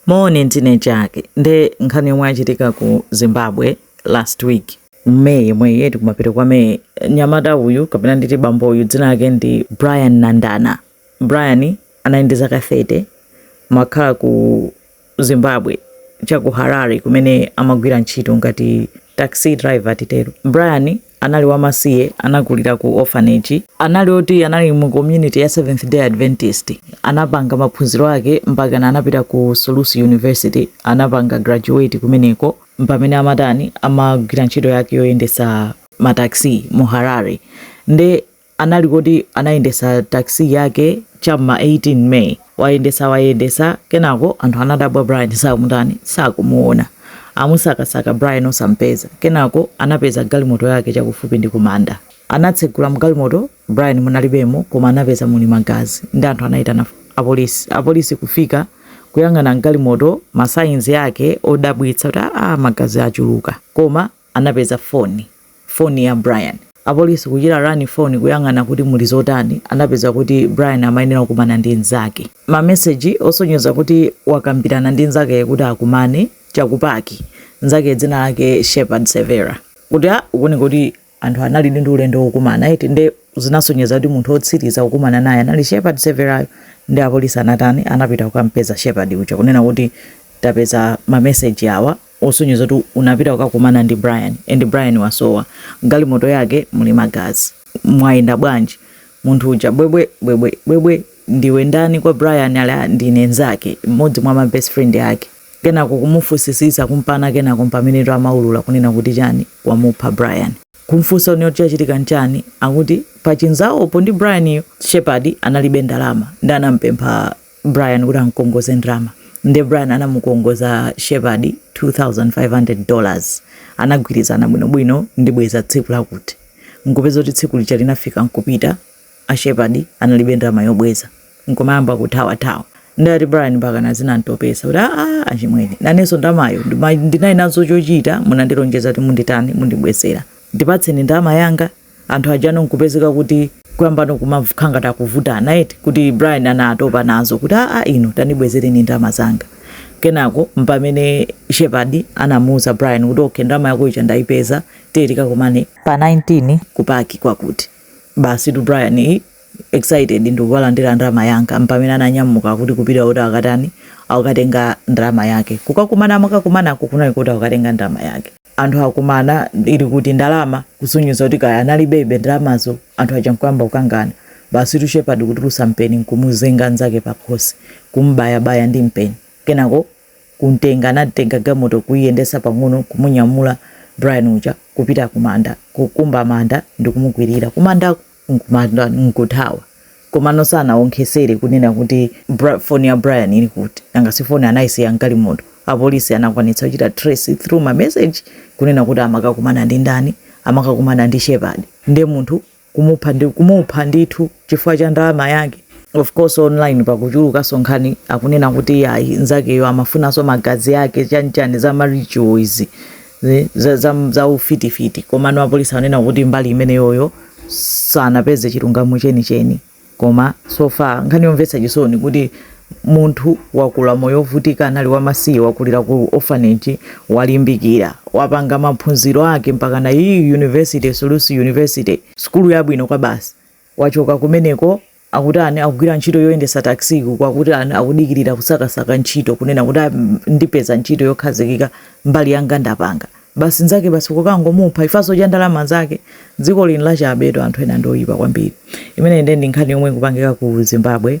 Moni ndine Jack nde nkhani yomwe yachitika ku Zimbabwe last week mu May yemweyi eti, kumapeto kwa May nyamata uyu kapena nditi bambo uyu dzina lake ndi Brian Nandana. Brian anali ndi zaka 30 amakhala ku Zimbabwe cha ku Harare kumene amagwira ntchito ngati taxi driver titero. Brian Anali wamasiye, anakulira ku orphanage, anali oti anali mu community ya Seventh Day Adventist, anapanga maphunziro ake mpakana anapita ku Solusi University, anapanga graduate kumeneko, mpamene amatani, amagwira ntchito yake yoyendetsa ma taxi mu Harare, nde anali kuti anayendesa taxi yake cha m'ma 18 may wayendesa wayendesa kenako anthu anadabwa Brian satani sakumuona amusakasaka Brian osampeza kenako anapeza galimoto yake chakufupi ndi kumanda, anatsegula mgalimoto Brian munalibemo koma anapeza muli magazi ndi anthu anayitana apolisi apolisi kufika kuyang'ana mgalimoto ma signs yake odabwitsa kuti aa magazi achuluka koma anapeza foni, foni ya Brian. Apolisi kuchita run foni kuyang'ana kuti muli zotani, anapeza kuti Brian amayenera kukumana ndi nzake. Ma message osonyeza kuti wakambirana ndi nzakeyo kuti akumane cha ku park, nzakeyo dzina lake Shepard Severa. Kuti ah zikuoneka kuti anthu analidi ndi ulendo wokumana eti nde zinasonyeza kuti munthu otsiriza kukumana naye anali Shepard Severayo. Nde apolisi anatani, anapita kukampeza Shepard uja kunena kuti tapeza ma message awa, osonyeza kuti unapita kukakumana ndi Brian and Brian wasowa, mgalimoto yake muli magazi, mwayenda bwanji? Munthu uja, bwebwe, bwebwe, bwebwe, ndiwe ndani kwa Brian? Ali, ah, ndine nzake, mmodzi mwa ma best friend ake. Kenako kumufusisisa kumpana, kenako mpamene amaulula kunena kuti chani wamupha Brian kumfunsa kunena kuti chachitika nchani, akuti pachinzawopo ndi Brian-yo Shepard analibe ndalama nde anampempha Brian kuti amkongoze ndrama nde Brian anamukongoza Shepard 2500 dollars anagwirizana bwinobwino ndibweza tsiku lakuti nkupeza kuti tsiku lija linafika nkupita a Shepard analibe ndrama yobweza nkumayamba kuthawathawa ndati Brian mpakana zinamtopesa kuti aa achimwene nanenso ndamayo ndima- ndinali nazo chochita munandilonjeza kuti munditani mundibwezera ndipatseni ndama yanga anthu ajano nkupezeka kuti kuyambano kumakhala ngati akuvutana eti kuti Brian anatopa nazo kuti aa inu tandibwezereni ndalama zanga kenako mpamene Shepard anamuuza Brian kuti okay ndalama yako ija ndaipeza tiye tikakumane pa 19 kupaki kwakuti basitu Brian i- excited ndikukalandira ndalama yanga mpamene ananyamuka kuti kupita kuti akatani akatenge ndalama yake kukakumana amakakumanako kunali kuti akukatenga ndalama yake anthu akumana ili kuti ndalama kusonyeza kuti kaya analibebe ndalamazo anthu aja nkuyamba kukangana basi Shepherd kutulusa mpeni nkumuzenga nzake pakhosi kumbayabaya ndi mpeni kenako kumtenga anatenga galimoto kuyendesa pang'ono kumunyamula Brian uja kupita kumanda kukumba manda ndikumukwirira kumandako nkumatani nkuthawa komano sanawonkhesere kunena kuti phone ya Brian ili kuti nanga si phone anayisiya mgalimoto apolisi anakwanitsa kuchita trace through ma message kunena kuti amakakumana ndi ndani amakakumana ndi Shepherd nde munthu kumupha ndi kumupha ndithu chifukwa cha ndalama yake of course online pakuchulukanso nkhani akunena kuti a iyi nzakeyo amafunanso magazi ake chanichani za ma ritual izi zaufitifiti komano apolisi anena kuti mbali imeneyoyo sanapeze chilungamo chenicheni koma so far nkhani yomvetsa chisoni kuti munthu wakula moyo wovutika anali wamasiye wakulira ku orphanage walimbikira wapanga maphunziro ake mpaka ku university Solusi University sukulu yabwino kwabasi wachoka kumeneko akutani akugwira ntchito yoyendesa taxi ku kwakuti ani akudikirira kusakasaka ntchito kunena kuti ndipeza ntchito yokhazikika mbali yanga ndapanga basi nzake basi kukangomupha chifukwa cha ndalama zake dziko lino lachabedi anthu ena ndoyipa kwambiri imene ndiye ndi nkhani yomwe ikupangika ku Zimbabwe